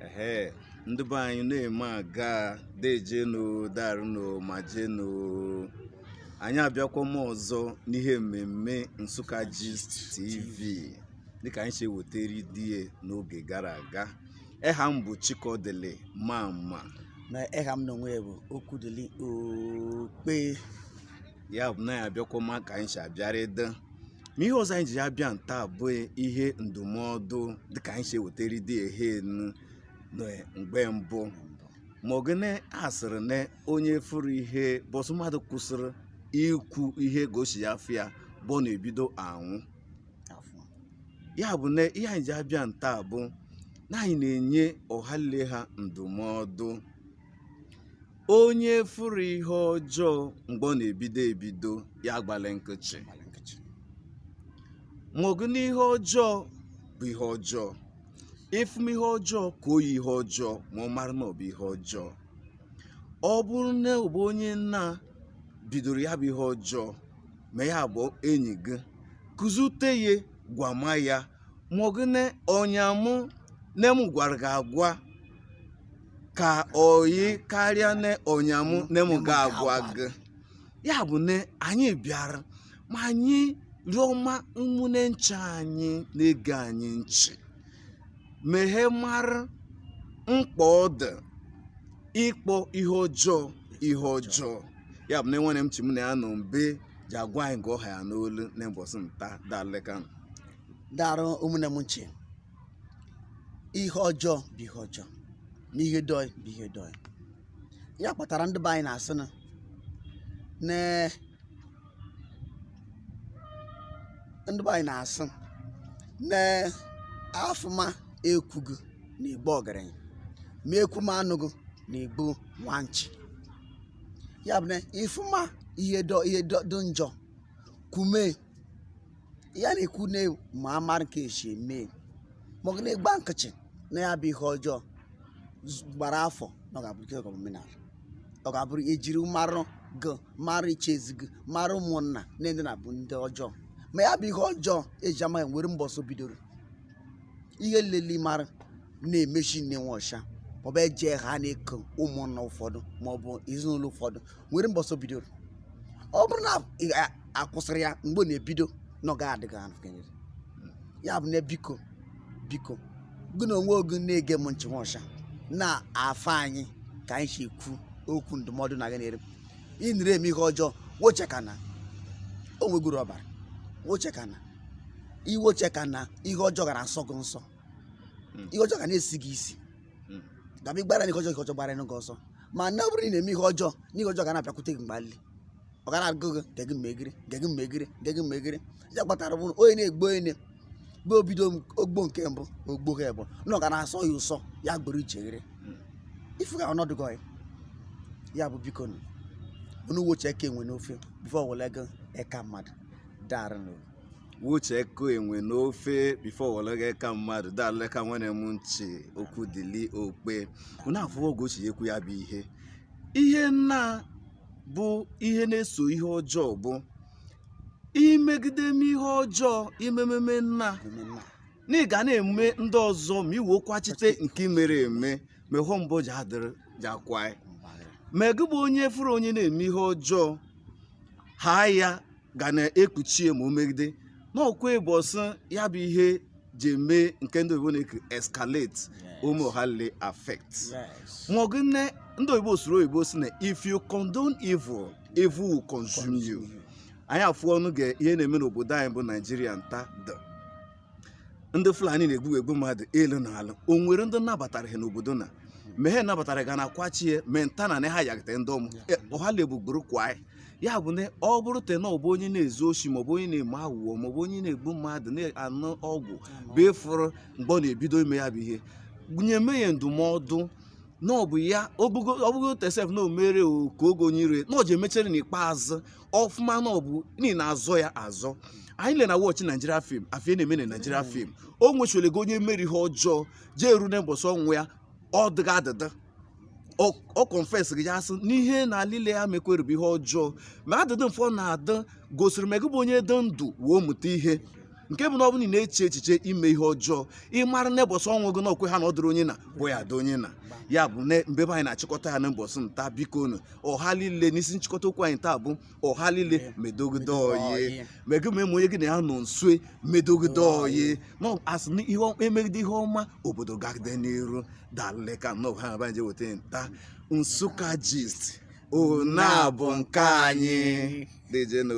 ehe ndị be anyị na-eme aga dejenu darụnu ma jenu anyị abịakwama ọzọ n'ihe mmemme Nsukka Gist TV dịka anyị si ewetara die n'oge gara aga eha m bụ Chikodili Mama na eha m n'onwe bụ Okwudili Okpe ya bụ na anyị abịakwama ka anyị si abịara ịdị ma ihe ọzọ anyị ji abịa nta bụ ihe ndụmọdụ dịka anyị si ewetara dị ehe enu na mgbe mbụ ma ọ gịnị asịrị na onye fụrụ ihe bọsụ mmadụ kwụsịrị ikwu ihe gosi ya afọ ya bụ ọ na-ebido anwụ ya bụ na ihe anyị ji abịa nta bụ na anyị na-enye ọhale ha ndụmọdụ onye fụrụ ihe ọjọọ mgbe ọ na-ebido ebido ya gbale nkịtị maka na ihe ọjọọ bụ ihe ọjọọ ị fụma ihe ọjọọ kpọọ ya ihe ọjọọ ma ọ mara na ọ bụ ihe ọjọọ ọ bụrụ na ọ bụ onye nna bidoro ya bụ ihe ọjọọ ma ya bụ enyi gị kụzute ya gwama ya maka na ọnyamụ na m gwara gị agwa ka oyi karịa na ọnyamụ na mụ ga-agwa gị ya bụ na anyị bịara ma anyị rịọma ụmụnne ncha anyị na-ege anyị nchị ma ha mara mkpa ọ dị ịkpọ ihe ọjọọ ihe ọjọọ ya bụ na nwanne m Chi mụ na ya nọ mbe ji agwa anyị nke ọ ha ya n'olu na mbọsụ nta dalịka darụ ụmụnne m ncha ihe ọjọọ bụ ihe ọjọọ na ihe dị oyi bụ ihe dị oyi ya kpatara ndị be anyị na-asị na na ndị be anyị na-asị na afụma ekwugụ na-egbu ọgerenyi ma ekwuma anụgụ na-egbu nwanchị ya bụ na ị fụma ihe ihe dị njọ kwume ya na-ekwu na ma amara nke esi eme maka na ị gba nkịtị na ya bụ ihe ọjọọ gbara afọ na ọ ga-abụrụ nke ga-abụ omenala ọ ga-abụrụ ejiri marụ gị marụ ichezi gị marụ ụmụnna na ndị a na-abụ ndị ọjọọ ma ya bụ ihe ọjọọ eji ama gị nwere mbọsụ bidoro ihe liile ị mara na-emechi nne nwa ọcha maọbụ eje ha na-eke ụmụnna ụfọdụ maọbụ ezinụlọ ụfọdụ nwere mbọsụ bidoro ọ bụrụ na akwụsịrị ya mgbe ọ na-ebido na ọ gaghị adịghị anụ kenyere ya bụ na biko biko gị n'onwe gị na-ege m nchị nwaọcha na-afụ anyị ka anyị si ekwu okwu ndụmọdụ na gị na-ere ị nere eme ihe ọjọọ nwochekana o nwegụ uru ọ bara nwochekana iwoche ka na ihe ọjọọ ga na-asọ gị nsọ Mm. ihe ọjọọ ga na-esi gị isi Mm. ga-abụ ị gbara n'ihe ọjọọ ihe ọjọọ gbara gị ọsọ ma na ọ bụrụ na ị na-eme ihe ọjọọ na ihe ọjọọ ga na-abịakwute gị mgbe alile ọ ga na-agụ gị gege mmegiri gege mmegiri gege mmegiri ya kpatara bụrụ onye na-egbu onye bụ o bido m- o gbuo nke mbụ o gbuo ha bụ na ọ ga na-asọ ya ụsọ ya gboro icheghere Mm. ị fụga ọnọdụ gị ya bụ biko nụ unu woche eka enwe n'ofe before wele gị eka mmadụ darịnụ woche eka enwe n'ofe before wologe eka mmadụ dalụle ka nwere m nchi Okwudili Okpe unu afụwo ga o si ekwu ya bụ ihe ihe nna bụ ihe na-eso ihe ọjọọ bụ imegide m ihe ọjọọ imememe nna na ị ga na-eme ndị ọzọ ma i wee kwuchite nke i mere eme ma ịhụ mbụ ji adịrị ji akwa ma gị bụ onye fụrụ onye na-eme ihe ọjọọ ha ya ga na-ekpuchi ma o megide na ọkwa ụbọsị ya bụ ihe ji eme nke ndị oyibo na-ekwu escalate ụmụ ha le affect ma ọ gị nne ndị oyibo sụrụ oyibo sị na if you condone evil evil will consume you anyị afụwo nụ ga ihe na-eme n'obodo anyị bụ naijiria nta dị ndị fulani na-egbu egbu mmadụ elu na ala o nwere ndị nabatara ha n'obodo na ma ha nabatara ga na kwachie ma nta na ha yagide ndị ọmụ e, ọhala egbugburu kwa anyị ya bụ na ọ bụrụte na ọ bụ onye na-ezu oshi maọbụ onye na-eme aghụghọ maọbụ onye na-egbu mmadụ na-anụ ọgwụ bụ ị fụrụ mgbe ọ na-ebido ime ya bụ ihe nyeme ya ndụmọdụ na ọ bụ ya ọ bụgote sef na omere ka oge onye ire na ọ ji emechere n'ikpeazụ ọ fụma na ọ bụ na ị na-azọ ya azọ anyị le na watch naijiria film afụ ihe na-eme na naijiria film o nwechere ga onye mere ihe ọjọọ ji eru na mbọsị ọnwụ ya ọ dịghị adịda ọ- ọ confess gị ya sị n'ihe na alile ya mekwere bụ ihe ọjọọ ma adịdị mfe ọ na-adị gosiri ma gị bụ onye dị ndụ wee mụta ihe nke bụ na ọ bụrụ na ị na-eche echiche ime ihe ọjọọ ị mara na ụbọchị ọnwụ gị na okwe ha na ọ dịrị onye na bụ ya dị onye na ya bụ na mbe be anyị na-achịkọta ya na ụbọchị nta biko nu ọha niile n'isi nchịkọta okwu anyị taa bụ ọha niile medogide ọyị mege ma eme onye gị na ya nọ nsue medogide ọyị na a sị na ihe ọma- e megide ihe ọma obodo gagide n'iru dalụle ka nnọọ ha na je weta nta nsụka gist ona bụ nke anyị deeje nụ